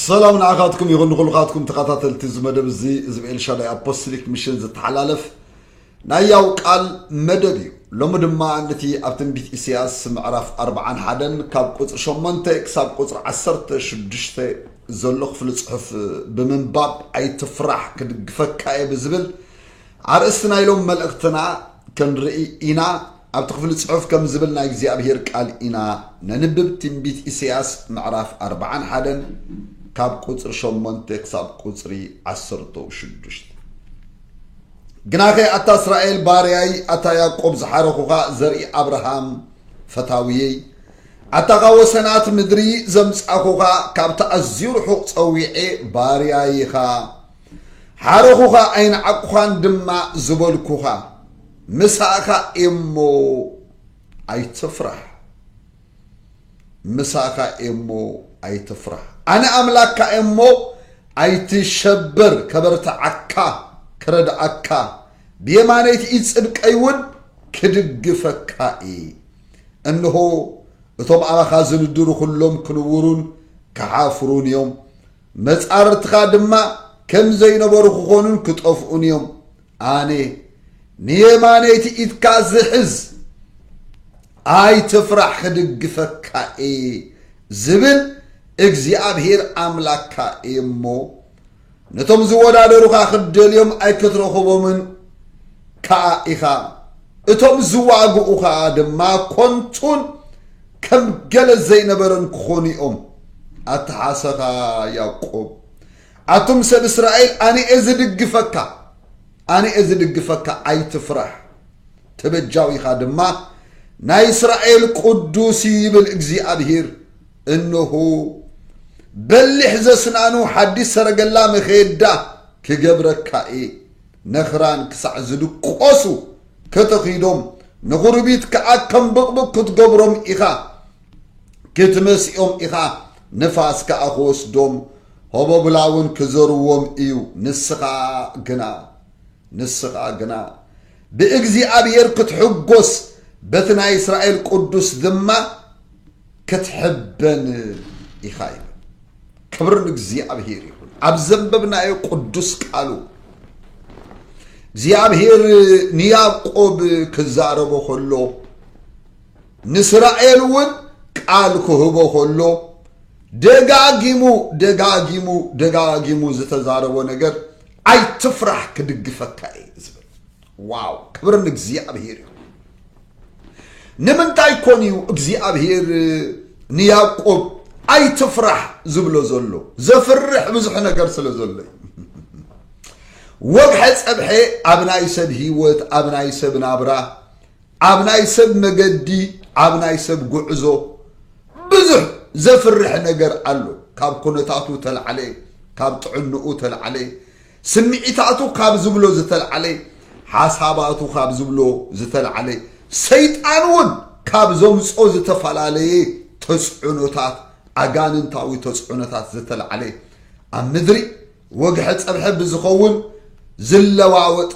ሰላም ንዓኻትኩም ይኹን ንኹልኻትኩም ተኸታተልቲ እዚ መደብ እዚ እዚ ብኤልሻዳይ ኣፖስቶሊክ ሚሽን ዝተሓላለፍ ናይ ያው ቃል መደብ እዩ ሎሚ ድማ ነቲ ኣብ ትንቢት ኢሳያስ ምዕራፍ ኣርብዓን ሓደን ካብ ቁፅሪ ሸሞንተ ክሳብ ቁፅሪ ዓሰርተ ሽዱሽተ ዘሎ ክፍሊ ፅሑፍ ብምንባብ ኣይትፍራሕ ክድግፈካ እየ ብዝብል ኣርእስቲ ናይ ሎም መልእኽትና ክንርኢ ኢና ኣብቲ ክፍሊ ጽሑፍ ከምዚ ዝብል ናይ እግዚኣብሄር ቃል ኢና ነንብብ ትንቢት ኢሰያስ ምዕራፍ ኣርብዓን ሓደን ካብ ቁጽሪ ሸሞንተ ክሳብ ቁጽሪ ዓሰርተ ሽዱሽተ ግናኸ ኣታ እስራኤል ባርያይ ኣታ ያቆብ ዝሓረኹኻ ዘርኢ ኣብርሃም ፈታውየይ ኣታ ካብ ወሰናት ምድሪ ዘምጻኹኻ ካብቲ ኣዝዩ ርሑቕ ጸዊዔ ባርያይኻ ሓረኹኻ ኣይንዓቁኻን ድማ ዝበልኩኻ ምሳኻ እየሞ ኣይትፍራህ ምሳኻ እየሞ ኣይትፍራህ ኣነ ኣምላክካ እየሞ ኣይትሸበር ከበርትዓካ ክረድኣካ ብየማነይቲ ኢድ ጽድቀይ እውን ክድግፈካ እየ እንሆ እቶም ኣባኻ ዝንድሩ ኩሎም ክንውሩን ክሓፍሩን እዮም መጻርርትኻ ድማ ከም ዘይነበሩ ክኾኑን ክጠፍኡን እዮም። ኣነ ንየማነይቲ ኢድካ ዝሕዝ ኣይትፍራሕ ክድግፈካ እየ ዝብል እግዚኣብሄር ኣምላክካ እየ እሞ ነቶም ዝወዳደሩኻ ክትደልዮም ኣይክትረኽቦምን ከዓ ኢኻ። እቶም ዝዋግኡ ከኣ ድማ ኮንቱን ከም ገለ ዘይነበረን ክኾኑ እዮም። ኣተሓሰኻ ያቆብ ኣቱም ሰብ እስራኤል ኣነኤ ዝድግፈካ ኣነኤ ዝድግፈካ ኣይትፍራሕ ተበጃዊኻ ድማ ናይ እስራኤል ቅዱስ ይብል እግዚኣብሂር እነሆ በሊሕ ዘስናኑ ሓዲስ ሰረገላ መኸየዳ ክገብረካ እየ ነኽራን ክሳዕ ዝድቈሱ ከተኺዶም፣ ንዅርቢት ከኣ ከም ብቕብቕ ክትገብሮም ኢኻ፣ ክትመስዮም ኢኻ፣ ንፋስ ከኣ ክወስዶም፣ ሆቦብላውን ክዘርዎም እዩ። ንስኻ ግና፣ ንስኻ ግና፣ ብእግዚኣብሄር ክትሕጐስ፣ በቲ ናይ እስራኤል ቅዱስ ድማ፣ ክትሕበን ኢኻ ይብል። ክብሪ ንእግዚኣብሔር ይኹን። ኣብ ዘንበብናዮ ቅዱስ ቃሉ እግዚኣብሔር ንያዕቆብ ክዛረቦ ከሎ ንእስራኤል እውን ቃል ክህቦ ከሎ ደጋጊሙ ደጋጊሙ ደጋጊሙ ዝተዛረቦ ነገር ኣይትፍራሕ ክድግፈካ እዩ ዝብል ዋው ክብሪ ንእግዚኣብሄር ይኹን። ንምንታይ ኮን እዩ እግዚኣብሄር ንያዕቆብ ኣይትፍራሕ ዝብሎ ዘሎ? ዘፍርሕ ብዙሕ ነገር ስለ ዘሎ እዩ። ወግሐ ጸብሐ ኣብ ናይ ሰብ ህይወት፣ ኣብ ናይ ሰብ ናብራ፣ ኣብ ናይ ሰብ መገዲ፣ ኣብ ናይ ሰብ ጉዕዞ ብዙሕ ዘፍርሕ ነገር ኣሎ። ካብ ኩነታቱ ተላዕለ፣ ካብ ጥዕንኡ ተላዕለ፣ ስምዒታቱ ካብ ዝብሎ ዝተልዓለ፣ ሓሳባቱ ካብ ዝብሎ ዝተልዓለ፣ ሰይጣን እውን ካብ ዘምጾ ዝተፈላለየ ተጽዕኖታት፣ ኣጋንንታዊ ተጽዕኖታት ዝተልዓለ፣ ኣብ ምድሪ ወግሐ ጸብሐ ብዝኸውን ዝለዋወጥ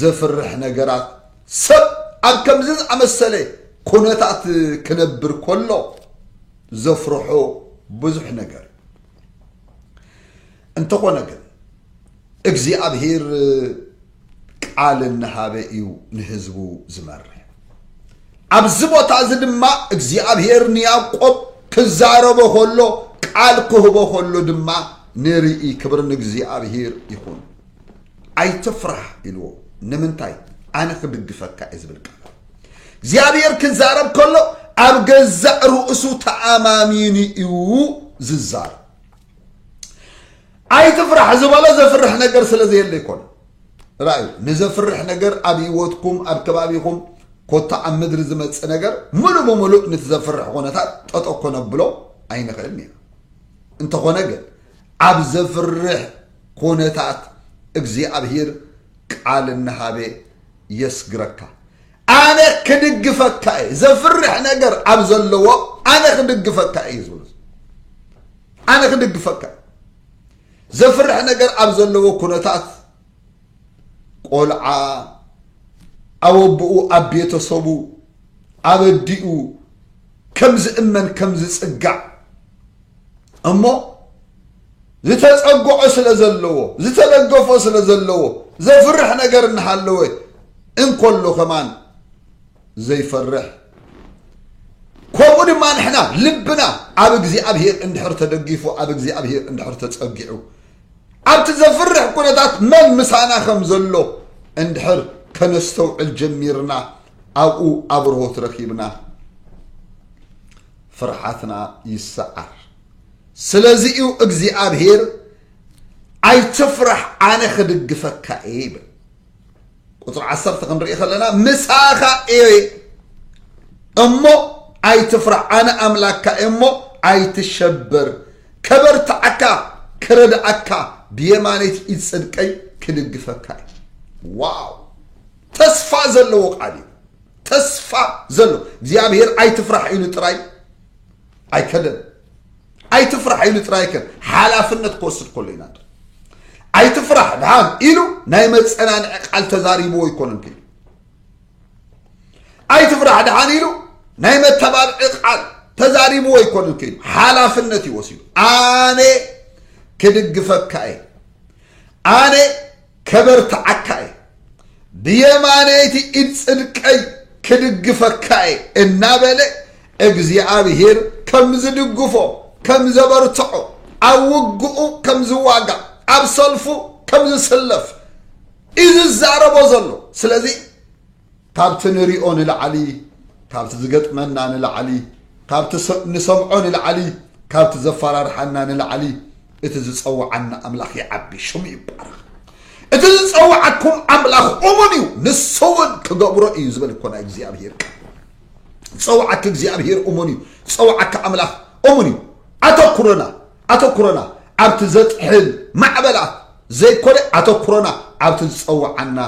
ዘፍርሕ ነገራት፣ ሰብ ኣብ ከምዚ ዝኣመሰለ ኩነታት ክነብር ከሎ ዘፍርሖ ብዙሕ ነገር እዩ። እንተኾነ ግን እግዚኣብሄር ቃል እናሃበ እዩ ንህዝቡ ዝመርሕ። ኣብዚ ቦታ እዚ ድማ እግዚኣብሄር ንያዕቆብ ክዛረቦ ከሎ ቃል ክህቦ ከሎ ድማ ንርኢ። ክብሪ ንእግዚኣብሄር ይኹን። ኣይትፍራሕ ኢልዎ። ንምንታይ? ኣነ ክድግፈካ እየ ዝብል ቃል እግዚኣብሄር ክዛረብ ከሎ ኣብ ገዛእ ርእሱ ተኣማሚኑ እዩ ዝዛረብ። ኣይትፍራሕ ዝበሎ ዘፍርሕ ነገር ስለ ዘየለ ይኮነ ራእዩ ንዘፍርሕ ነገር ኣብ ህይወትኩም ኣብ ከባቢኹም ኮታ ኣብ ምድሪ ዝመፅእ ነገር ሙሉእ ብምሉእ ንቲ ዘፍርሕ ኩነታት ጠጦ ኮነብሎ ኣይንኽእልን ኢና እንተኾነ ግን ኣብ ዘፍርሕ ኩነታት እግዚኣብሄር ቃል እናሃበ የስግረካ ኣነ ክድግፈካ እየ ዘፍርሕ ነገር ኣብ ዘለዎ ኣነ ክድግፈካ እየ ዝብሉ ኣነ ክድግፈካ እየ ዘፍርሕ ነገር ኣብ ዘለዎ ኩነታት ቆልዓ ኣብ ኣቦኡ ኣብ ቤተሰቡ ኣብ ኣዲኡ ከም ዝእመን ከም ዝፅጋዕ እሞ ዝተጸግዖ ስለ ዘለዎ፣ ዝተደገፎ ስለ ዘለዎ፣ ዘፍርሕ ነገር እናሃለወ እንከሎ ከማን ዘይፈርሕ ከምኡ ድማ ንሕና ልብና ኣብ እግዚኣብሄር እንድሕር ተደጊፉ ኣብ እግዚኣብሄር እንድሕር ተጸጊዑ ኣብቲ ዘፍርሕ ኩነታት መን ምሳና ከም ዘሎ እንድሕር ከነስተውዕል ጀሚርና ኣብኡ ኣብርሆት ረኪብና ፍርሓትና ይሰዓር ስለዚ እዩ እግዚኣብሄር ኣይትፍራሕ ኣነ ክድግፈካ እየ ይብል ቁፅሪ ዓሰርተ ክንርኢ ከለና ምሳኻ እየ እሞ ኣይትፍራሕ ኣነ ኣምላካ እሞ ኣይትሸበር ከበርትዓካ ክረድኣካ ብየማነይቲ ኢድ ፅድቀይ ክድግፈካ እዩ ዋው ተስፋ ዘለዎ ቃል እዩ ተስፋ ዘሎ እግዚኣብሄር ኣይትፍራሕ ኢሉ ጥራይ ኣይከደን ኣይትፍራሕ ኢሉ ጥራይ ከ ሓላፍነት ክወስድ ከሎ ኢና ኣይትፍራሕ ድሓን ኢሉ ናይ መፀናንዒ ቃል ተዛሪብዎ ይኮነን ክኢሉ ኣይትፍራሕ ድሓን ኢሉ ናይ መተባብዒ ቃል ተዛሪብዎ ይኮነን ክኢሉ ሓላፍነት እዩ ወሲዱ ኣነ ክድግፈካ እየ ኣነ ከበርትዓካ እየ፣ ብየማነይቲ ኢድ ጽድቀይ ክድግፈካ እየ እናበለ እግዚኣብሄር ከም ዝድግፎ፣ ከም ዘበርትዖ፣ ኣብ ውግኡ ከም ዝዋጋእ፣ ኣብ ሰልፉ ከም ዝስለፍ እዩ ዝዛረቦ ዘሎ። ስለዚ ካብቲ ንሪኦ ንላዕሊ፣ ካብቲ ዝገጥመና ንላዕሊ፣ ካብቲ ንሰምዖ ንላዕሊ፣ ካብቲ ዘፈራርሓና ንላዕሊ እቲ ዝጸውዓና ኣምላኽ ይዓቢ፣ ሽሙ ይባረኽ። እቲ ዝጸውዓኩም ኣምላኽ እሙን እዩ፣ ንሱ እውን ክገብሮ እዩ ዝበል እኮ ናይ እግዚኣብሄር ቃል። ዝጸውዓኪ እግዚኣብሄር እሙን እዩ፣ ዝጸውዓካ ኣምላኽ እሙን እዩ። ኣተኩሮና ኣተኩሮና ኣብቲ ዘጥሕል ማዕበላት ዘይኮነ ኣተኩሮና ኣብቲ ዝጸውዓና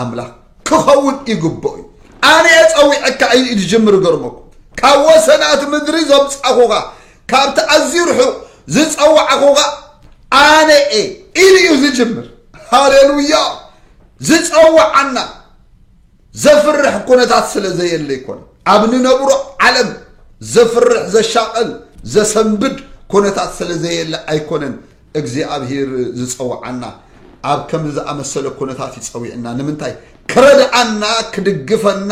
ኣምላኽ ክኸውን ይግብኦ እዩ ኣነየ ጸዊዐካ ኢሉ እዩ ዝጅምር ገርመኩ ካብ ወሰናት ምድሪ ዘምጻኹኻ ካብቲ ኣዝዩ ርሑቕ ዝጸዋዕኹኻ ኣነ እየ ኢሉ እዩ ዝጅምር ሃሌሉያ ዝጸዋዓና ዘፍርሕ ኩነታት ስለ ዘየለ ኣይኮነን። ኣብ ንነብሮ ዓለም ዘፍርሕ ዘሻቐል ዘሰንብድ ኩነታት ስለ ዘየለ ኣይኮነን እግዚኣብሂር ዝጸውዓና ኣብ ከምዚ ዝኣመሰለ ኩነታት እዩ ጸዊዕና። ንምንታይ? ክረድኣና፣ ክድግፈና፣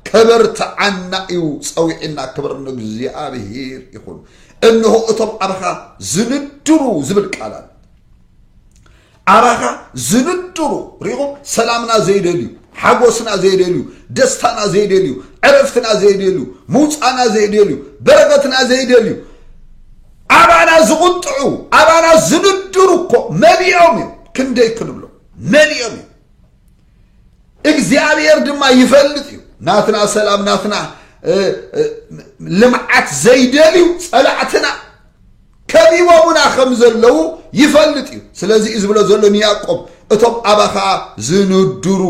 ከበርትዓና እዩ ጸዊዕና። ክብር ንእግዚኣብሂር ይኹን። እንሆ እቶም ኣባኻ ዝንድሩ ዝብል ቃል ኣሎ። ኣባካ ዝንድሩ ሪኢኹም ሰላምና ዘይደልዩ ሓጎስና ዘይደልዩ ደስታና ዘይደልዩ ዕረፍትና ዘይደልዩ ምውፃና ዘይደልዩ በረከትና ዘይደልዩ ኣባና ዝቁጥዑ ኣባና ዝንድሩ እኮ መሊኦም እዮም ክንደይ ክንብሎ መሊኦም እዮም እግዚኣብሔር ድማ ይፈልጥ እዩ ናትና ሰላም ናትና ልምዓት ዘይደልዩ ፀላዕትና ከቢቦሙና ከም ዘለዉ ይፈልጥ እዩ ስለዚ እዩ ዝብሎ ዘሎ ንያቆብ እቶም ኣባኻ ዝንድሩ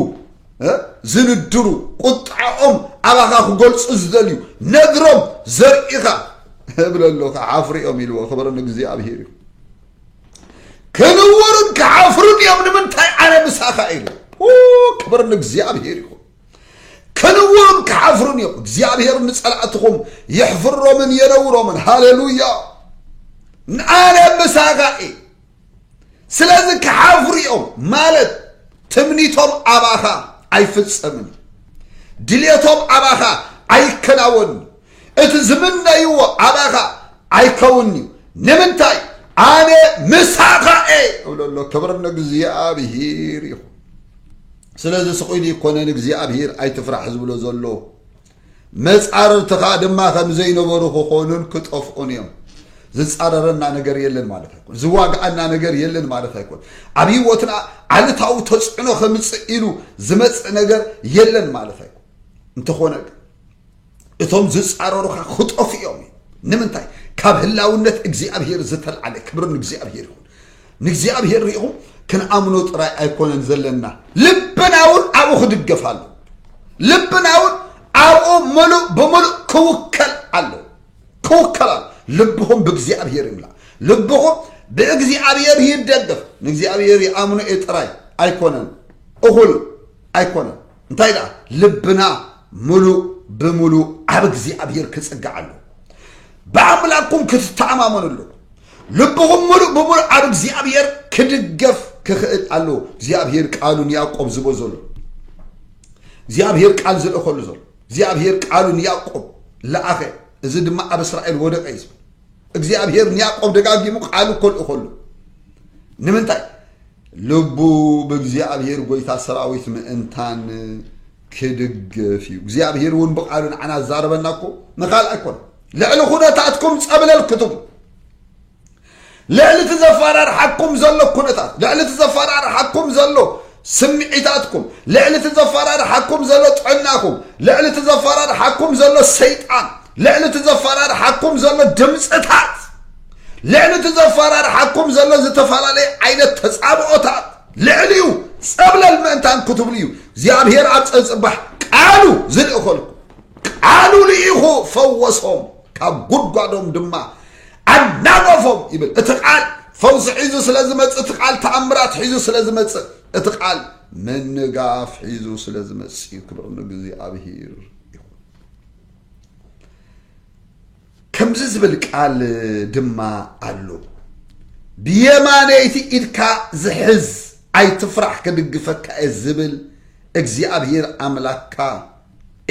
ዝንድሩ ቁጣዖም ኣባኻ ክገልፁ ዝደልዩ ነግሮም ዘርኢኻ እብለሉ ክዓፍርኦም ኢልዎ ክብሪ ንእግዚኣብሄር እዩ ክንውሩን ክሓፍሩን እዮም ንምንታይ ኣነ ምሳኻ ኢሉ ክብር ንእግዚኣብሄር ይኹን ክንውሩን ክሓፍሩን እዮም እግዚኣብሄር ንፀላእትኹም የሕፍሮምን የነውሮምን ሃሌሉያ ንኣነ ምሳኻ እየ ስለዚ ክሓፍሩ እዮም ማለት ትምኒቶም ኣባኻ ኣይፍፀምን ድሌቶም ኣባኻ ኣይከናወንን እቲ ዝምነይዎ ኣባኻ ኣይከውን እዩ ንምንታይ ኣነ ምሳኻ እየ እብሎ ኣሎ ክብር ንእግዚኣብሄር ይኹን ስለዚ ስቑኢሉ ይኮነን እግዚኣብሄር ኣይትፍራሕ ዝብሎ ዘሎ መፃርርትኻ ድማ ከም ዘይነበሩ ክኾኑን ክጠፍኡን እዮም ዝፃረረና ነገር የለን ማለት ኣይኮን ዝዋግኣና ነገር የለን ማለት ኣይኮን ኣብ ህይወትና ዓልታዊ ተፅዕኖ ከምፅእ ኢሉ ዝመፅእ ነገር የለን ማለት ኣይኮን እንተኾነ ግን እቶም ዝጻረሩኻ ክጠፉ እዮም እዩ ንምንታይ ካብ ህላውነት እግዚኣብሄር ዝተልዓለ ክብሪ ንእግዚኣብሄር ይኹን ንእግዚኣብሄር ሪኢኹም ክንኣምኖ ጥራይ ኣይኮነን ዘለና ልብና እውን ኣብኡ ክድገፍ ኣሎ ልብና እውን ኣብኡ ምሉእ ብምሉእ ክውከል ኣሎ ክውከል ኣሎ ልብኹም ብእግዚኣብሄር ይምላ ልብኹም ብእግዚኣብሄር ይደገፍ ንእግዚኣብሄር ይኣምኖ እየ ጥራይ ኣይኮነን እኹል ኣይኮነን እንታይ ደኣ ልብና ምሉእ ብምሉእ ኣብ እግዚኣብሔር ክጽጋዕ ኣሎ ብኣምላኩም ክትተኣማመኑ ኣሎ ልብኹም ምሉእ ብምሉእ ኣብ እግዚኣብሔር ክድገፍ ክኽእል ኣሎ እግዚኣብሔር ቃሉ ንያዕቆብ ዝቦ ዘሎ እግዚኣብሔር ቃል ዝልእኸሉ ዘሎ እግዚኣብሔር ቃሉ ንያዕቆብ ለኣኸ እዚ ድማ ኣብ እስራኤል ወደቀ እዩ እግዚኣብሔር ንያዕቆብ ደጋጊሙ ቃሉ ኮልእኸሉ ንምንታይ ልቡ ብእግዚኣብሄር ጐይታ ሰራዊት ምእንታን ክድገፍ እዩ። እግዚኣብሄር እውን ብቓሉ ንዓና ዝዛረበና እኮ ንኻልእ ኣይኮነ ልዕሊ ኩነታትኩም ጸብለል ክትብሉ ልዕሊ እቲ ዘፈራርሓኩም ዘሎ ኩነታት ልዕሊ እቲ ዘፈራርሓኩም ዘሎ ስምዒታትኩም ልዕሊ እቲ ዘፈራርሓኩም ዘሎ ጥዕናኹም ልዕሊ እቲ ዘፈራርሓኩም ዘሎ ሰይጣን ልዕሊ እቲ ዘፈራርሓኩም ዘሎ ድምፅታት ልዕሊ እቲ ዘፈራርሓኩም ዘሎ ዝተፈላለየ ዓይነት ተጻብኦታት ልዕሊኡ ጸብለል ምእንታን ክትብሉ እዩ እግዚኣብሔር ኣብ ጸንጽባሕ ቃሉ ዝልእኸልኩ ቃሉ ልኢኹ ፈወሶም ካብ ጉድጓዶም ድማ ኣናገፎም ይብል እቲ ቃል ፈውሲ ሒዙ ስለ ዝመጽእ እቲ ቃል ተኣምራት ሒዙ ስለ ዝመጽእ እቲ ቃል ምንጋፍ ሒዙ ስለ ዝመጽእ ክብሪ ንእግዚኣብሄር ይኹን ከምዚ ዝብል ቃል ድማ ኣሎ ብየማነይቲ ኢድካ ዝሕዝ ኣይትፍራሕ ክድግፈካ እየ ዝብል እግዚኣብሔር ኣምላክካ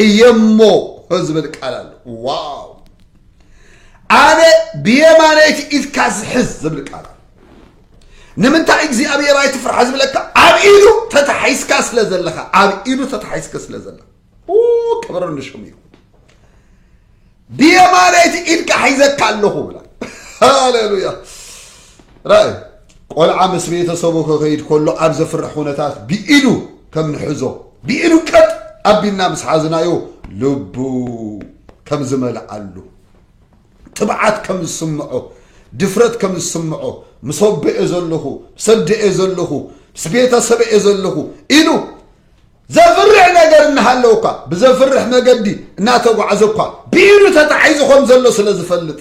እየሞ ዝብል ቃል ኣሎ ዋው ኣነ ብየማነይቲ ኢድካ ዝሕዝ ዝብል ቃል ንምንታይ እግዚኣብሔር ኣይትፍራሕ ዝብለካ ኣብ ኢዱ ተታሒዝካ ስለ ዘለኻ ኣብ ኢዱ ተታሒዝካ ስለ ዘለኻ ክብር ንሽም እዩ ብየማነይቲ ኢድካ ሒዘካ ኣለኹ ብላ ሃሌሉያ ራእይ ቆልዓ ምስ ቤተሰቡ ክኸይድ ከሎ ኣብ ዘፍርሕ ኩነታት ብኢዱ ከም ንሕዞ ብኢዱ ቀጥ ኣቢልና ምስ ሓዝናዮ ልቡ ከም ዝመልኣሉ ትብዓት ከም ዝስምዖ ድፍረት ከም ዝስምዖ ምስ ወበኤ ዘለኹ ሰደኤ ዘለኹ ምስ ቤተሰበኤ ዘለኹ ኢሉ ዘፍርሕ ነገር እናሃለወ እኳ ብዘፍርሕ መገዲ እናተጓዕዘ እኳ ብኢዱ ተታሒዙ ከም ዘሎ ስለ ዝፈልጥ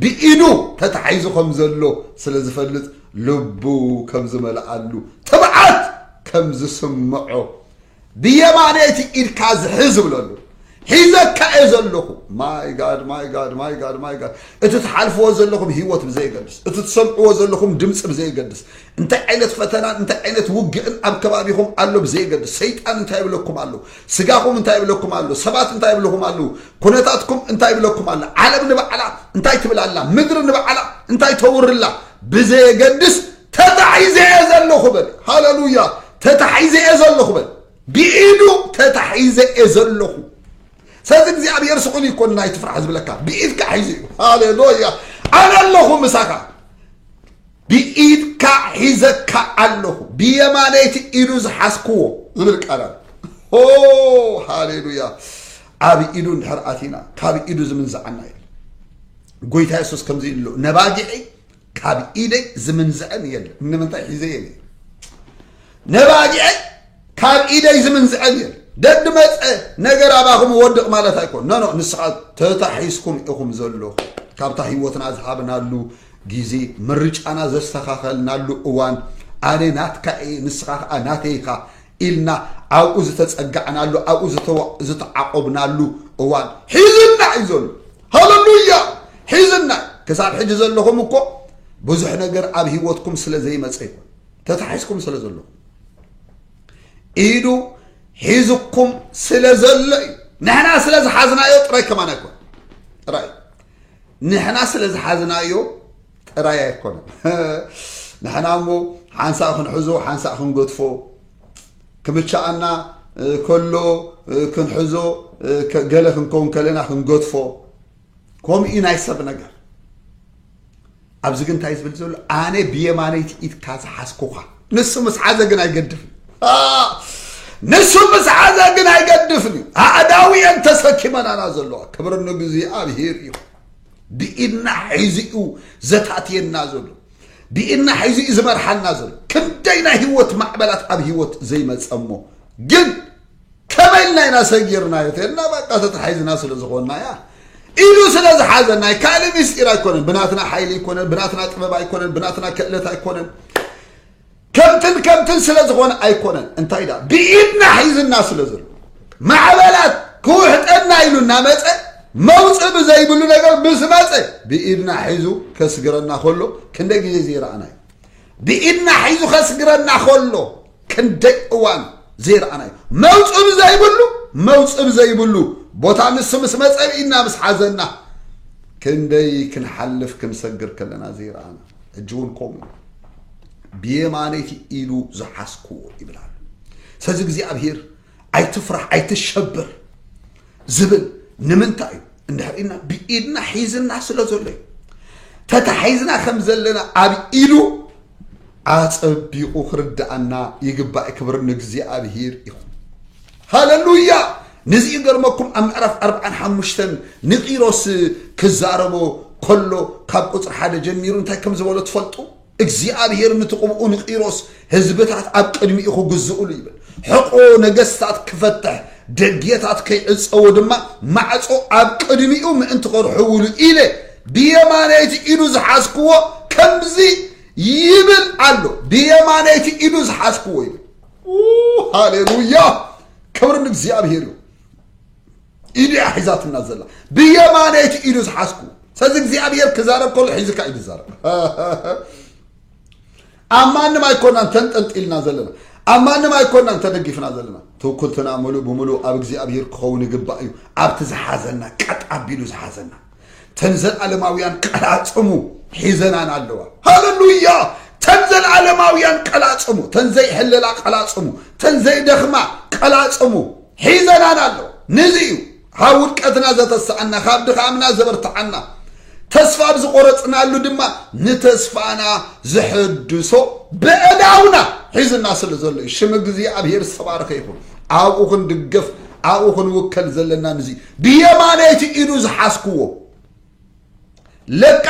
ብኢዱ ተታሒዙ ከም ዘሎ ስለ ዝፈልጥ ልቡ ከም ዝመልኣሉ ትብዓት ከም ዝስምዖ ብየማነይቲ ኢድካ ዝሕዝ ብለሉ ሒዘካ እየ ዘለኹ ማይ ጋድ ማይ ጋድ ማይ ጋድ ማይ ጋድ እቲ ትሓልፍዎ ዘለኹም ህይወት ብዘይገድስ እቲ ትሰምዕዎ ዘለኹም ድምፂ ብዘይገድስ እንታይ ዓይነት ፈተናን እንታይ ዓይነት ውግእን ኣብ ከባቢኹም ኣሎ ብዘየገድስ ሰይጣን እንታይ ይብለኩም ኣሎ ስጋኹም እንታይ ይብለኩም ኣሎ ሰባት እንታይ ይብልኹም ኣለዉ ኩነታትኩም እንታይ ይብለኩም ኣሎ ዓለም ንባዕላ እንታይ ትብል ኣላ ምድሪ ንባዕላ እንታይ ተውርላ ብዘየገድስ ተታሒዘ እየ ዘለኹ በል ሃለሉያ ተታሒዘ እየ ዘለኹ በል ብኢዱ ተታሒዘ እየ ዘለኹ ሰዚ እግዚኣብሔር ስቑል ይኮን ናይ ትፍራሕ ዝብለካ ብኢድካ ሒዙ እዩ ሃሌሉያ ኣነ ኣለኹ ምሳኻ ብኢድካ ሒዘካ ኣለኹ ብየማነይቲ ኢዱ ዝሓዝክዎ ዝብል ቃል ኣሎ ሆ ሃሌሉያ ኣብ ኢዱ እንድሕር ኣቲና ካብ ኢዱ ዝምንዝዓና የለን ጎይታ የሱስ ከምዚ ኢሉ ኣሎ ነባጊዐይ ካብ ኢደይ ዝምንዝዐን የለን ንምንታይ ሒዘየን ነባጊዐይ ካብ ኢደይ ዝምንዝዐ ኔር ደድ መፀ ነገር ኣባኹም ወድቕ ማለት ኣይኮን ነኖ ንስኻ ተታሒዝኩም ኢኹም ዘለኹ ካብታ ህይወትና ዝሃብናሉ ግዜ ምርጫና ዘስተኻኸልናሉ እዋን ኣነ ናትካ እየ ንስኻ ከዓ ናተይ ኢኻ ኢልና ኣብኡ ዝተፀጋዕናሉ ኣብኡ ዝተዓቆብናሉ እዋን ሒዝና እዩ ዘሎ ሃለሉያ ሒዝና ክሳብ ሕጂ ዘለኹም እኮ ብዙሕ ነገር ኣብ ህይወትኩም ስለ ዘይመፀ ይኮን ተታሒዝኩም ስለ ዘለኹም ኢዱ ሒዝኩም ስለ ዘሎ እዩ ንሕና ስለ ዝሓዝናዮ ጥራይ ከማን ኣይኮነ ጥራይ ንሕና ስለ ዝሓዝናዮ ጥራይ ኣይኮነ ንሕና እሞ ሓንሳእ ክንሕዞ ሓንሳእ ክንገድፎ ክምቻኣና ከሎ ክንሕዞ ገለ ክንከውን ከለና ክንገድፎ ከምኡ እዩ ናይ ሰብ ነገር ኣብዚ ግን እንታይ ዝብል ዘሎ ኣነ ብየማነይቲ ኢድካ ዝሓዝኩኻ ንሱ ምስ ሓዘ ግን ኣይገድፍን ንሱ ምስ ሓዘ ግን ኣይገድፍን እዩ ኣእዳው እየን ተሰኪመናና ዘለዋ ክብሪ ንእግዚኣብሄር እዩ ብኢድና ሒዙ እዩ ዘታትየና ዘሎ ብኢድና ሒዙ እዩ ዝመርሓና ዘሎ ክንደይ ናይ ህይወት ማዕበላት ኣብ ህይወት ዘይመፀ እሞ ግን ከመይ ኢልና ኢና ሰጊርናዮ ተልና ባቃ ተታሒዝና ስለ ዝኾንና እያ ኢሉ ስለ ዝሓዘና እዩ ካልእ ምስጢር ኣይኮነን ብናትና ሓይሊ ኣይኮነን ብናትና ጥበብ ኣይኮነን ብናትና ክእለት ኣይኮነን ከምትን ከምትን ስለ ዝኾነ ኣይኮነን እንታይ ዳ ብኢድና ሒዝና ስለ ዘሎ ማዕበላት ክውሕጠና ኢሉ እናመፀ መውፅ ብዘይብሉ ነገር ምስ መፀ ብኢድና ሒዙ ከስግረና ከሎ ክንደ ግዜ ዘይረኣና እዩ ብኢድና ሒዙ ከስግረና ከሎ ክንደይ እዋን ዘይረኣናዮ መውፅብ ዘይብሉ መውፅብ ዘይብሉ ቦታ ንሱ ምስ መፀ ኢድና ምስ ሓዘና ክንደይ ክንሓልፍ ክንሰግር ከለና ዘይረኣና ሕጂ እውን ከምኡ እዩ ብየማነይቲ ኢሉ ዝሓስኩዎ ይብላሉ ሰዚ እግዚኣብሄር ኣይትፍራሕ ኣይትሸብር ዝብል ንምንታይ እዩ እንድሕር ኢልና ብኢድና ሒዝና ስለ ዘሎ እዩ ተታሒዝና ከም ዘለና ኣብ ኢሉ ኣጸቢቑ ክርድኣና ይግባእ ክብር ንእግዚኣብሔር ይኹን ሃለሉያ ንዚ ይገርመኩም ኣብ ምዕራፍ ኣርብዓን ሓሙሽተን ንቂሮስ ክዛረቦ ከሎ ካብ ቁፅሪ ሓደ ጀሚሩ እንታይ ከም ዝበሎ ትፈልጡ እግዚኣብሄር ንቲ ቕብኡ ንቂሮስ ህዝብታት ኣብ ቅድሚኡ ክግዝእሉ ይብል ሕቖ ነገስታት ክፈትሕ ደጌታት ከይዕጸዎ ድማ ማዕጾ ኣብ ቅድሚኡ ምእንቲ ከርሕውሉ ኢለ ብየማነይቲ ኢዱ ዝሓዝክዎ ከምዚ ይብል ኣሎ ብየማነይቲ ኢዱ ዝሓዝክዎ ይብል ሃሌሉያ ክብሪ ንእግዚኣብሄር እዩ ኢዱ እያ ሒዛትና ዘላ ብየማነይ እቲ ኢዱ ዝሓዝኩ ስለዚ እግዚኣብሔር ክዛረብ ከሎ ሒዝካ እዩ ዝዛረብ ኣብ ማንም ኣይኮናን ተንጠልጢልና ዘለና ኣብ ማንም ኣይኮናን ተደጊፍና ዘለና ትውክልትና ምሉእ ብምሉእ ኣብ እግዚኣብሔር ክኸውን ይግባእ እዩ ኣብቲ ዝሓዘና ቀጥ ኣቢሉ ዝሓዘና ተን ዘለዓለማውያን ቀላጽሙ ሒዘናና ኣለዋ ሃለሉያ ተን ዘለዓለማውያን ቀላጽሙ ተን ዘይሕለላ ቀላጽሙ ተን ዘይደኽማ ቀላጽሙ ሒዘናና ኣለዋ ንዚ እዩ ካብ ውድቀትና ዘተስኣና ካብ ድኻምና ዘበርትዓና ተስፋ ኣብ ዝቆረጽናሉ ድማ ንተስፋና ዝሕድሶ በእዳውና ሒዝና ስለ ዘሎ እዩ ሽም እግዚኣብሄር ዝተባረኸ ይኹን ኣብኡ ክንድገፍ ኣብኡ ክንውከል ዘለና ንዚ ብየማነይቲ ኢዱ ዝሓዝክዎ ለቃ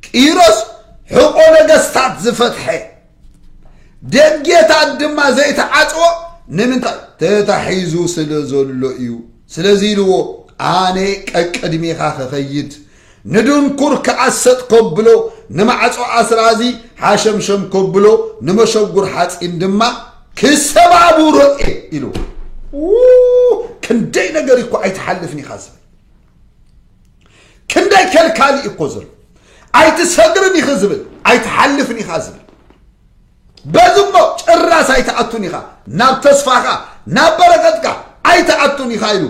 ቂሮስ ሕቆ ነገስታት ዝፈትሐ ደጌታት ድማ ዘይተዓፅዎ ንምንታይ ተታሒዙ ስለ ዘሎ እዩ ስለዚ ኢልዎ ኣነ ቀቅድሜኻ ክኸይድ ንድንኩር ከኣ ሰጥ ከብሎ፣ ንማዕጾ ኣስራዚ ሓሸምሸም ከብሎ፣ ንመሸጉር ሓጺን ድማ ክሰባብሮ'የ ኢሉ። ኡይ ክንደይ ነገር እኮ ኣይትሓልፍን ኢኻ ዝብል ክንደይ ከልካሊ እኮ ዘሎ ኣይትሰግርን ኢኺ ዝብል ኣይትሓልፍን ኢኻ ዝብል በዚ እሞ ጭራስ ኣይትኣቱን ኢኻ ናብ ተስፋኻ ናብ በረኸትካ ኣይትኣቱን ኢኻ ኢሉ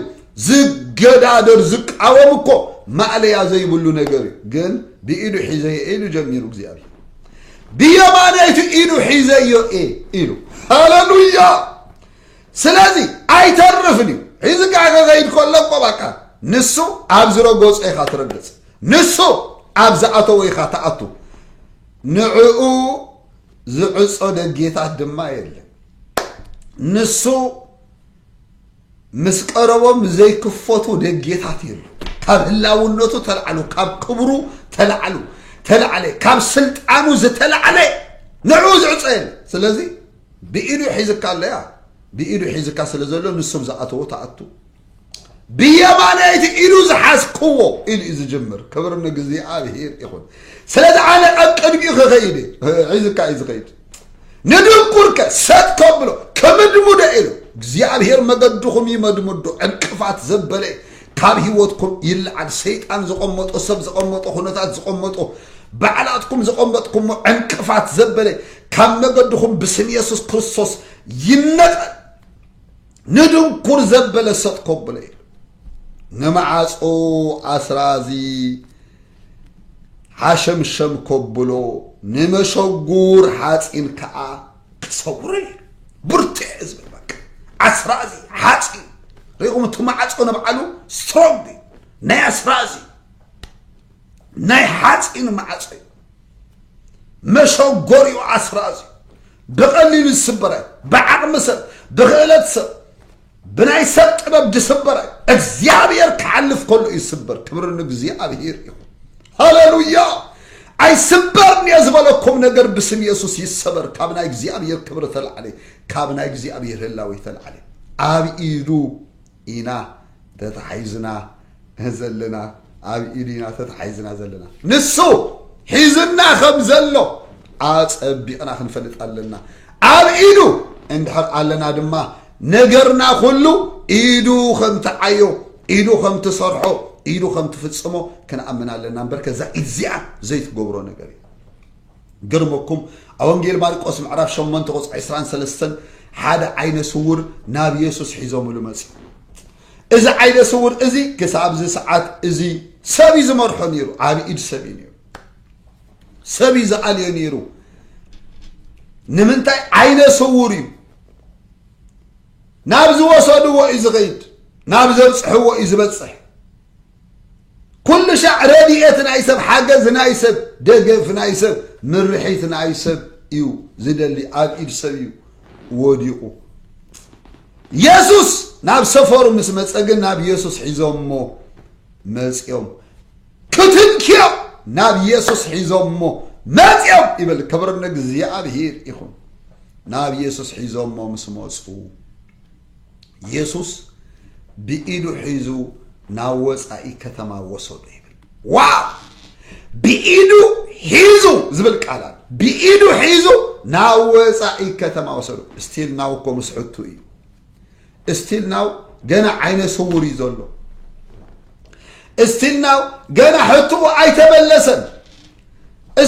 ዝገዳደር ዝቃወም እኮ ማእለያ ዘይብሉ ነገር እዩ ግን ብኢዱ ሒዘዮ ኢሉ ጀሚሩ እግዚኣብሔር ብየማነይቱ ኢዱ ሒዘዮ እየ ኢሉ ሃለሉያ ስለዚ ኣይተርፍን እዩ ሒዚ ከዓ ከኸይድ ከሎ እኮ ባቃ ንሱ ኣብ ዝረገጾ ኢኻ ትረግጽ ንሱ ኣብ ዝኣተወ ኢኻ ትኣቱ ንዕኡ ዝዕጾ ደጌታት ድማ የለን ንሱ ምስ ቀረቦም ዘይክፈቱ ደጌታት የሉ ካብ ህላውነቱ ተላዕሉ ካብ ክብሩ ተላዕሉ ተላዕለ ካብ ስልጣኑ ዝተላዕለ ንዕኡ ዝዕፀ የለ ስለዚ ብኢዱ ሒዝካ ኣለያ ብኢዱ ሒዝካ ስለ ዘሎ ንሱብ ዝኣተዎ ተኣቱ ብየማነይቲ ኢዱ ዝሓዝክዎ ኢሉ እዩ ዝጅምር ክብሪ ንእግዚኣብሄር ይኹን ስለዚ ኣነ ኣብ ቅድሚኡ ክኸይድ ሒዝካ እዩ ዝኸይድ ንድንቁርከ ሰጥ ከብሎ ከምድሙደ ኢሉ እግዚኣብሄር መገድኹም ይመድምዶ ዕንቅፋት ዘበለ ካብ ህይወትኩም ይለዓል ሰይጣን ዝቐመጦ ሰብ ዝቐመጦ ኩነታት ዝቐመጦ ባዕላትኩም ዝቐመጥኩሞ ዕንቅፋት ዘበለ ካብ መገድኹም ብስም የሱስ ክርስቶስ ይነቐል ንድንኩር ዘበለ ሰጥ ኮብለ ኢሉ ንመዓጾ ኣስራዚ ሓሸምሸም ኮብሎ ንመሸጉር ሓፂን ከዓ ክሰውረ ኢሉ ብርትዕ ዝብል በቃ ኣስራዚ ሓፂን ሪኹም እቲ መዓጾ ንብዓሉ ስትሮንግ እዩ ናይ ኣስራዚ ናይ ሓፂን መዓጾ እዩ መሸጎሪኡ ኣስራዚ እዩ ብቐሊሉ ዝስበረ ብዓቕሚ ሰብ ብክእለት ሰብ ብናይ ሰብ ጥበብ ዝስበረ እግዚኣብሔር ክሓልፍ ከሎ እዩ ዝስበር ክብሪ ንእግዚኣብሔር ይኹን ሃሌሉያ ኣይስበርን እየ ዝበለኩም ነገር ብስም የሱስ ይሰበር ካብ ናይ እግዚኣብሔር ክብሪ ተላዕለ ካብ ናይ እግዚኣብሔር ህላዊ ተላዕለ ኣብ ኢዱ ኢና ተታሒዝና ዘለና ኣብ ኢዱ ኢና ተታሒዝና ዘለና ንሱ ሒዙና ከም ዘሎ ኣጸቢቕና ክንፈልጥ ኣለና ኣብ ኢዱ እንድሕር ኣለና ድማ ነገርና ኩሉ ኢዱ ከም ትዓዮ ኢዱ ከም ትሰርሖ ኢዱ ከም ትፍጽሞ ክንኣምን ኣለና እምበር ከዛ ኢድ እዚኣ ዘይትገብሮ ነገር እዩ ክገርመኩም ኣብ ወንጌል ማርቆስ ምዕራፍ ሸሞንተ ቁጽሪ ዕስራን ሰለስተን ሓደ ዓይነ ስውር ናብ የሱስ ሒዞምሉ መጽኡ እዚ ዓይነ ስውር እዚ ክሳብ እዚ ሰዓት እዚ ሰብ እዩ ዝመርሖ ነይሩ ዓብ ኢድ ሰብ እዩ ነይሩ ሰብ እዩ ዝኣልዮ ነይሩ ንምንታይ ዓይነ ስውር እዩ ናብ ዝወሰድዎ እዩ ዝኸይድ ናብ ዘብፅሕዎ እዩ ዝበፅሕ ኩሉ ሻዕ ረድኤት ናይ ሰብ ሓገዝ ናይ ሰብ ደገፍ ናይ ሰብ ምርሒት ናይ ሰብ እዩ ዝደሊ ኣብ ኢድ ሰብ እዩ ወዲቑ የሱስ ናብ ሰፈሩ ምስ መፀ ግን ናብ የሱስ ሒዞሞ መፅኦም ክትንክዮ ናብ የሱስ ሒዞሞ መፅኦም ይብል ክብሪ ንእግዚኣብሄር ይኹን ናብ የሱስ ሒዞሞ ምስ መፁ የሱስ ብኢዱ ሒዙ ናብ ወፃኢ ከተማ ወሰዶ ይብል ዋው ብኢዱ ሒዙ ዝብል ቃል ኣሎ ብኢዱ ሒዙ ናብ ወፃኢ ከተማ ወሰዶ ስቲል ናው እኮ ምስ ሕቱ እዩ ስቲል ናው ገና ዓይነ ስውር እዩ ዘሎ ስቲል ናው ገና ሕትኡ ኣይተመለሰን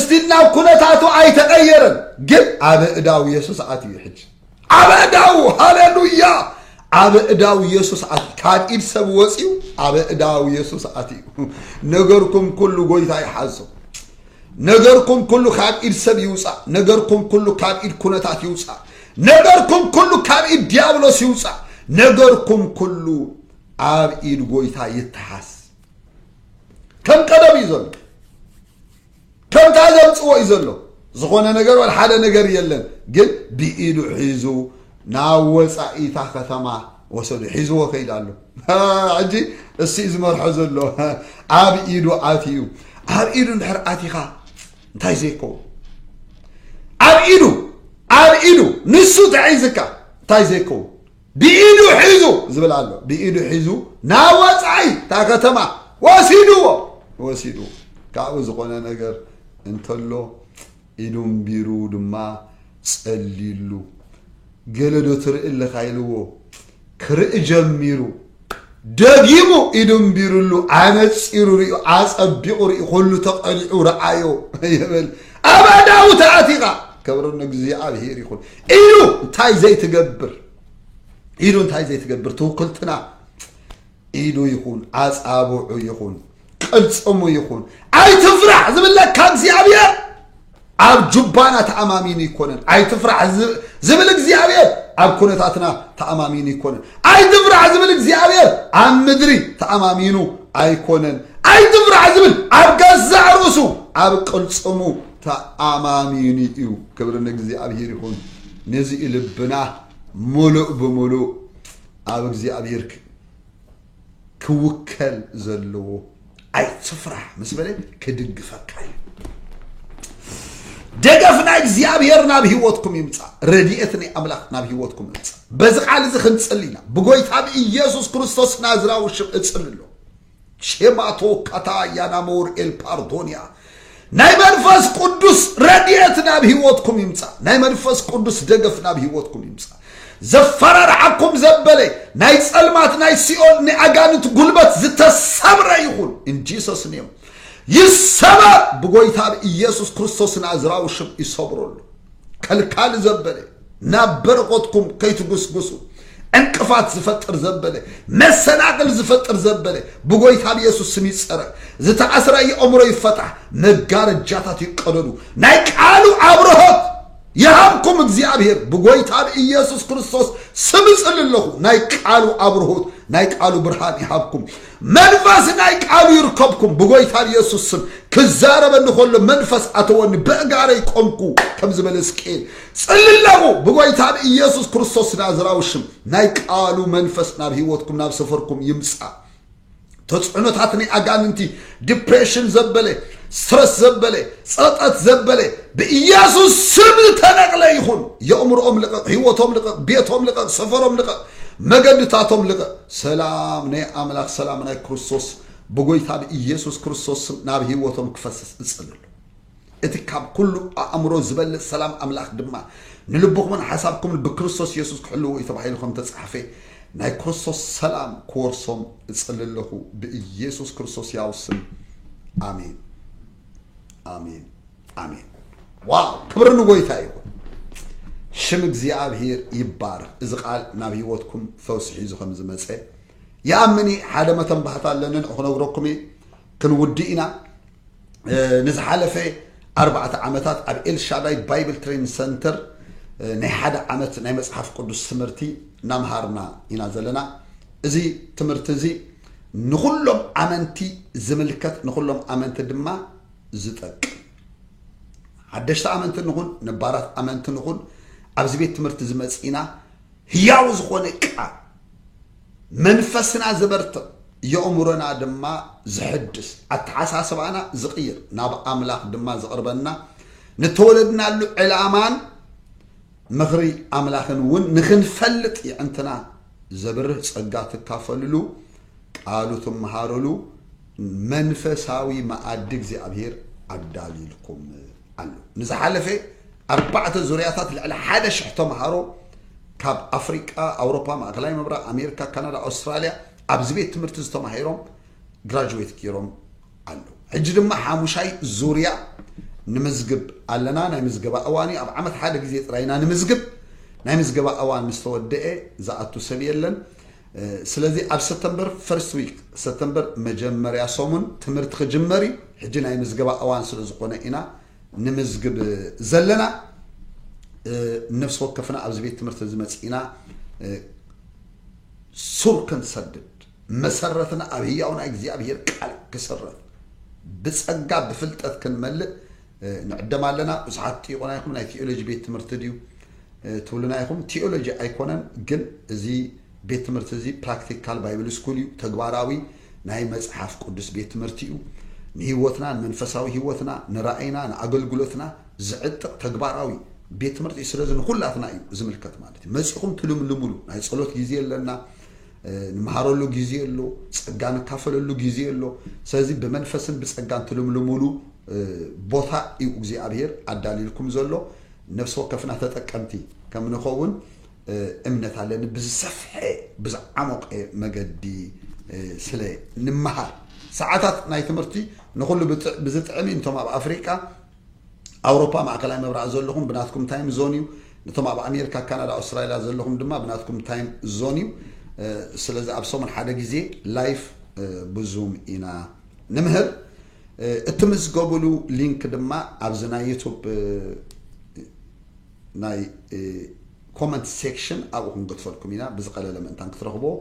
ስቲል ናው ኩነታቱ ኣይተቀየረን ግን ኣብ እዳው የሱስ ኣትዩ ሕጂ ኣብ እዳው ሃሌሉያ ኣብ እዳው የሱስ ኣትዩ ካብ ኢድ ሰብ ወፅዩ ኣብ እዳው የሱስ ኣትዩ ነገርኩም ኩሉ ጎይታ ይሓዞ ነገርኩም ኩሉ ካብ ኢድ ሰብ ይውፃእ ነገርኩም ኩሉ ካብ ኢድ ኩነታት ይውፃእ ነገርኩም ኩሉ ካብ ኢድ ዲያብሎስ ይውፃእ ነገርኩም ኩሉ ኣብ ኢድ ጎይታ ይተሓስ ከም ቀደም እዩ ዘሎ ከምታ ዘምጽዎ እዩ ዘሎ ዝኾነ ነገር ወል ሓደ ነገር የለን ግን ብኢዱ ሒዙ ናብ ወጻኢታ ከተማ ወሰዱ ሒዝዎ ከይድ ኣሎ ሕጂ እሱ እዩ ዝመርሖ ዘሎ ኣብ ኢዱ ኣትዩ ኣብ ኢዱ እንድሕር ኣቲኻ እንታይ ዘይከውን ኣብ ኢዱ ኣብ ኢዱ ንሱ ተሒዝካ እንታይ ዘይከውን ብኢዱ ሒዙ ዝብል ኣሎ ብኢዱ ሒዙ ናብ ወፃኢ እታ ከተማ ወሲድዎ ወሲድዎ ካብኡ ዝኾነ ነገር እንተሎ ኢዱ እምቢሩ ድማ ጸልዩሉ ገለዶ ትርኢ ኣለኻ ኢልዎ ክርኢ ጀሚሩ ደጊሙ ኢዱ ኣንቢሩሉ ኣነጺሩ ሪኡ ኣጸቢቑ ሪኡ ኩሉ ተቐኒዑ ረኣዮ ይብል ኣብ ኣእዳዉ ተኣቲኻ ክብሪ ንእግዚኣብሄር ይኹን ኢሉ እንታይ ዘይትገብር ኢሉ እንታይ ዘይትገብር ትውክልትና ኢዱ ይኹን ኣጻብዑ ይኹን ቅልጽሙ ይኹን ኣይትፍራሕ ዝብለካ እግዚኣብሔር ኣብ ጁባና ተኣማሚኑ ይኮነን ኣይትፍራሕ ዝብል እግዚኣብሔር ኣብ ኩነታትና ተኣማሚኑ ይኮነን ኣይትፍራሕ ዝብል እግዚኣብሔር ኣብ ምድሪ ተኣማሚኑ ኣይኮነን ኣይትፍራሕ ዝብል ኣብ ገዛእ ርእሱ ኣብ ቅልጽሙ ተኣማሚኑ እዩ ክብሪ ንእግዚኣብሔር ይኹን ነዚ ልብና ሙሉእ ብምሉእ ኣብ እግዚኣብሔር ክውከል ዘለዎ ኣይትፍራህ ምስ በለ ክድግፈካ እዩ ደገፍ ናይ እግዚኣብሔር ናብ ህይወትኩም ይምፃእ ረድኤት ናይ ኣምላኽ ናብ ህይወትኩም ይምፃእ በዚ ቃል እዚ ክንፅል ኢና ብጎይታ ብኢየሱስ ክርስቶስ ናዝራዊ ሽም እፅል ኣሎ ሼማቶ ካታ ያናሞር ኤልፓርዶንያ ናይ መንፈስ ቁዱስ ረድኤት ናብ ሂወትኩም ይምጻእ ናይ መንፈስ ቁዱስ ደገፍ ናብ ሂወትኩም ይምጻእ ዘፈራርሓኩም ዘበለ ናይ ጸልማት ናይ ሲኦል ናይ ኣጋንንት ጉልበት ዝተሰብረ ይኹን ኢን ጂሰስ ኔም ይሰበር ብጎይታ ብ ኢየሱስ ክርስቶስ ናዝራዊ ሽም ይሰብረሉ ከልካሊ ዘበለ ናብ በረኸትኩም ከይትጉስጉሱ ዕንቅፋት ዝፈጥር ዘበለ መሰናቕል ዝፈጥር ዘበለ ብጎይታ ብየሱስ ስም ይጸረ ዝተኣስረ የእምሮ ይፈታሕ መጋረጃታት ይቀደዱ ናይ ቃሉ ኣብርሆት ይሃብኩም እግዚኣብሔር ብጎይታ ብኢየሱስ ክርስቶስ ስም እጽል ኣለኹ ናይ ቃሉ ኣብርሆት ናይ ቃሉ ብርሃን ይሃብኩም መንፈስ ናይ ቃሉ ይርከብኩም ብጎይታ ብኢየሱስ ስም ክዛረበኒ ከሎ መንፈስ ኣተወኒ በእጋረይ ቆምኩ ከም ዝበለ ስቅኤል ጽልለኹ ብጎይታ ብኢየሱስ ክርስቶስ ናዝራዊ ሽም ናይ ቃሉ መንፈስ ናብ ህይወትኩም ናብ ሰፈርኩም ይምጻእ ተጽዕኖታት ናይ ኣጋንንቲ ዲፕሬሽን ዘበለ ስትረስ ዘበለ ጸጠት ዘበለ ብኢየሱስ ስም ዝተነቕለ ይኹን የእምሮኦም ልቐቕ ህይወቶም ልቐቕ ቤቶም ልቐቕ ሰፈሮም ልቐቕ መገድታቶም ልቐቕ ሰላም ናይ ኣምላኽ ሰላም ናይ ክርስቶስ ብጎይታ ብኢየሱስ ክርስቶስ ስም ናብ ህይወቶም ክፈስስ እጽልሉ እቲ ካብ ኩሉ ኣእምሮ ዝበልጽ ሰላም ኣምላኽ ድማ ንልብኹምን ሓሳብኩምን ብክርስቶስ የሱስ ክሕልዎ እዩ ተባሂሉ ከም እተጻሕፈ ናይ ክርስቶስ ሰላም ክወርሶም እጽሊ ኣለኹ ብኢየሱስ ክርስቶስ ያው ስም ኣሜን ኣሜን ኣሜን ዋው ክብሪ ንጎይታ ይኹን ሽም እግዚኣብሔር ይባረኽ እዚ ቃል ናብ ህይወትኩም ፈውሲ ሒዙ ከም ዝመፀ ይኣምን ሓደ መተን ባህታ ኣለንን ክነግረኩም ክንውድእ ኢና ንዝሓለፈ ኣርባዕተ ዓመታት ኣብ ኤልሻዳይ ባይብል ትሬን ሰንተር ናይ ሓደ ዓመት ናይ መፅሓፍ ቅዱስ ትምህርቲ እናምሃርና ኢና ዘለና እዚ ትምህርቲ እዚ ንኩሎም ኣመንቲ ዝምልከት ንኩሎም ኣመንቲ ድማ ዝጠቅም ሓደሽቲ ኣመንቲ ንኹን ነባራት ኣመንቲ ንኹን ኣብዚ ቤት ትምህርቲ ዝመፅእና ህያው ዝኾነ ቃል መንፈስና ዘበርትዕ የእምሮና ድማ ዝሕድስ ኣተሓሳስባና ዝቕይር ናብ ኣምላኽ ድማ ዘቕርበና ንተወለድናሉ ዕላማን ምኽሪ ኣምላኽን እውን ንኽንፈልጥ የዕንትና ዘብርህ ጸጋ ትካፈልሉ ቃሉ ትመሃረሉ መንፈሳዊ መኣዲ እግዚኣብሔር ኣዳልልኩም ኣሎ ንዝሓለፈ ኣርባዕተ ዙርያታት ልዕሊ ሓደ ሽሕ ተምሃሮ ካብ ኣፍሪቃ፣ ኣውሮፓ፣ ማእከላይ ምብራቕ፣ ኣሜሪካ፣ ካናዳ፣ ኣውስትራልያ ኣብዚ ቤት ትምህርቲ እዚ ተማሂሮም ግራጁዌት ገይሮም ኣለዉ። ሕጂ ድማ ሓሙሻይ ዙርያ ንምዝግብ ኣለና። ናይ ምዝገባ እዋን እዩ። ኣብ ዓመት ሓደ ግዜ ጥራይ ኢና ንምዝግብ። ናይ ምዝገባ እዋን ምስ ተወደኤ ዝኣቱ ሰብ የለን። ስለዚ ኣብ ሰፕተምበር ፈርስት ዊክ ሰፕተምበር መጀመርያ ሰሙን ትምህርቲ ክጅመር እዩ። ሕጂ ናይ ምዝገባ እዋን ስለ ዝኾነ ኢና ንምዝግብ ዘለና ነፍሲ ወከፍና ኣብዚ ቤት ትምህርቲ እዚ መፂእና ሱር ክንሰድድ መሰረትና ኣብ ህያው ናይ እግዚኣብሄር ቃል ክስረት ብፀጋ ብፍልጠት ክንመልእ ንዕደም ኣለና ብዙሓት ጥይቁና ይኹም ናይ ቴኦሎጂ ቤት ትምህርቲ ድዩ ትብሉና ይኹም ቴኦሎጂ ኣይኮነን ግን እዚ ቤት ትምህርቲ እዚ ፕራክቲካል ባይብል ስኩል እዩ፣ ተግባራዊ ናይ መጽሓፍ ቅዱስ ቤት ትምህርቲ እዩ። ንህይወትና፣ ንመንፈሳዊ ህይወትና፣ ንራእይና፣ ንኣገልግሎትና ዝዕጥቕ ተግባራዊ ቤት ትምህርቲ እዩ። ስለዚ ንኹላትና እዩ ዝምልከት ማለት እዩ። መጺኹም ትልምልሙሉ ናይ ጸሎት ግዜ ኣለና፣ ንመሃረሉ ግዜ ኣሎ፣ ጸጋ ንካፈለሉ ግዜ ኣሎ። ስለዚ ብመንፈስን ብጸጋን ትልምልሙሉ ቦታ እዩ እግዚኣብሄር ኣዳልዩልኩም ዘሎ። ነፍሲ ወከፍና ተጠቀምቲ ከም ንኸውን እምነት ኣለኒ ብዝሰፍሐ ብዝዓሞቐ መገዲ ስለ ንመሃር ሰዓታት ናይ ትምህርቲ ንኹሉ ብዝጥዕም እዩ እቶም ኣብ ኣፍሪቃ ኣውሮፓ ማእከላይ ምብራቕ ዘለኹም ብናትኩም ታይም ዞን እዩ ነቶም ኣብ ኣሜሪካ ካናዳ ኣውስትራሊያ ዘለኹም ድማ ብናትኩም ታይም ዞን እዩ ስለዚ ኣብ ሰሙን ሓደ ግዜ ላይፍ ብዙም ኢና ንምህር እትምዝገቡሉ ሊንክ ድማ ኣብዚ ናይ ዩቱብ ናይ ኮመንት ሴክሽን ኣብኡ ክንገድፈልኩም ኢና ብዝቀለለ ምእንታን ክትረኽብዎ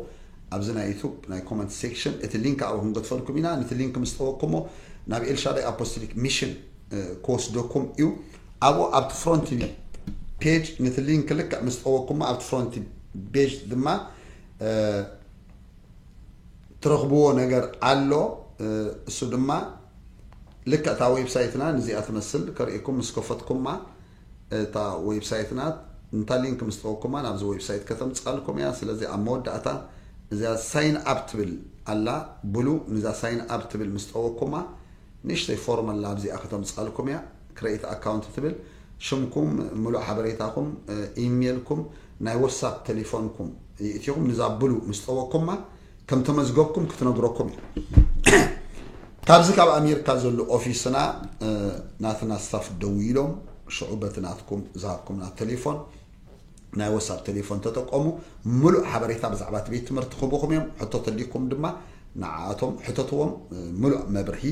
ኣብዚ ናይ ዩቱብ ናይ ኮመንት ሴክሽን እቲ ሊንክ ኣብኡ ክንገድፈልኩም ኢና ነቲ ሊንክ ምስ ጠወቅኩሞ ናብ ኤልሻዳይ ኣፖስቶሊክ ሚሽን ክወስደኩም እዩ ኣብኡ ኣብቲ ፍሮንት ፔጅ ነቲ ሊንክ ልክዕ ምስ ጠወቅኩሞ ኣብቲ ፍሮንት ቤጅ ድማ ትረኽብዎ ነገር ኣሎ እሱ ድማ ልክዕ እታ ዌብሳይትና ንዚኣ ትመስል ከርእኩም ምስ ከፈትኩማ እታ ወይብሳይት ናት ንታ ሊንክ ምስ ጠወኩማ ናብዚ ወይብሳይት ከተምጽኣልኩም እያ ስለዚ ኣብ መወዳእታ እዚኣ ሳይን ኣብ ትብል ኣላ ብሉ ንዛ ሳይን ኣብ ትብል ምስ ጠወኩማ ንእሽተይ ፎርም ኣላ ኣብዚኣ ከተምጽኣልኩም እያ ክረይት ኣካውንት ትብል ሽምኩም ምሉእ ሓበሬታኩም ኢሜልኩም ናይ ወሳፕ ተሊፎንኩም ይእቲኩም ንዛ ብሉ ምስ ጠወኩማ ከም ተመዝገብኩም ክትነግረኩም እያ ካብዚ ካብ ኣሜሪካ ዘሎ ኦፊስና ናትና ስታፍ ደው ኢሎም ሽዑ በቲ ናትኩም ዝሃብኩምና ቴሌፎን ናይ ወሳብ ቴሌፎን ተጠቀሙ ምሉእ ሓበሬታ ብዛዕባ እቲ ቤት ትምህርቲ ክህቡኹም እዮም ሕቶ ተልይኩም ድማ ንዓኣቶም ሕተትዎም ምሉእ መብርሂ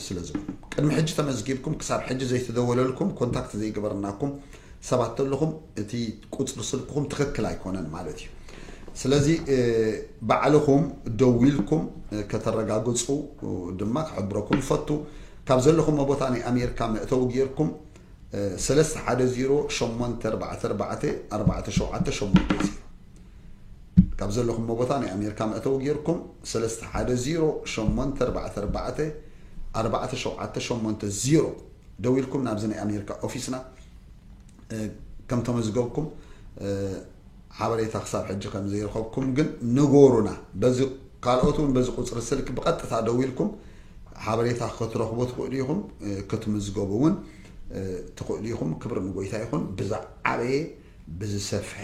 ስለ ዝብሉ ቅድሚ ሕጂ ተመዝጊብኩም ክሳብ ሕጂ ዘይተደወለልኩም ኮንታክት ዘይገበርናኩም ሰባት ተለኹም እቲ ቁፅሪ ስልክኹም ትኽክል ኣይኮነን ማለት እዩ። ስለዚ ባዕልኹም ደዊልኩም ከተረጋግፁ ድማ ክሕብረኩም ይፈቱ። ካብ ዘለኹም ቦታ ናይ ኣሜሪካ መእተዊ ጌርኩም ሰለስተ ሓደ ዜሮ ሸሞንተ ኣርባዕተ ኣርባዕተ ኣርባዕተ ሸውዓተ ሸሞንተ ዜሮ ካብ ዘለኹም ቦታ ናይ ኣሜሪካ መእተዊ ጌርኩም ሰለስተ ሓደ ዜሮ ሸሞንተ ኣርባዕተ ኣርባዕተ ኣርባዕተ ሸውዓተ ሸሞንተ ዜሮ ደዊልኩም ናብዚ ናይ ኣሜሪካ ኦፊስና ከም ተመዝገብኩም ሓበሬታ ክሳብ ሕጂ ከም ዘይረኸብኩም ግን ንጎሩና በዚ ካልኦት እውን በዚ ቁፅሪ ስልክ ብቐጥታ ደዊልኩም ሓበሬታ ክትረኽቡ ትኽእሉ ኢኹም ክትምዝገቡ እውን ትኽእሉ ኢኹም ክብሪ ንጎይታ ይኹን ብዛዓበየ ብዝሰፍሐ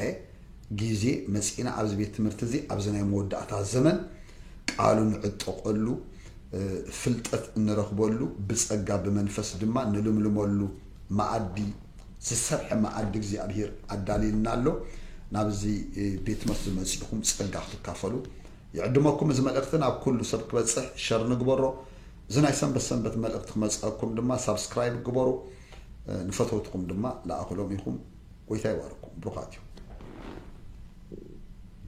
ግዜ መጺእና ኣብዚ ቤት ትምህርቲ እዚ ኣብዚ ናይ መወዳእታ ዘመን ቃሉ ንዕጠቀሉ ፍልጠት እንረኽበሉ ብጸጋ ብመንፈስ ድማ ንልምልመሉ መኣዲ ዝሰፍሐ መኣዲ እግዚኣብሔር ኣዳልዩልና ኣሎ ናብዚ ቤት ትምህርቲ ዝመጺእኹም ጸጋ ክትካፈሉ ይዕድመኩም እዚ መልእኽቲ ናብ ኩሉ ሰብ ክበጽሕ ሸር ንግበሮ እዚ ናይ ሰንበት ሰንበት መልእኽቲ ክመጽኣኩም ድማ ሳብስክራይብ ግበሩ ንፈተውትኹም ድማ ለኣኹሎም ኢኹም። ጎይታ ይባርኩም ብሩኻት ኢኹም።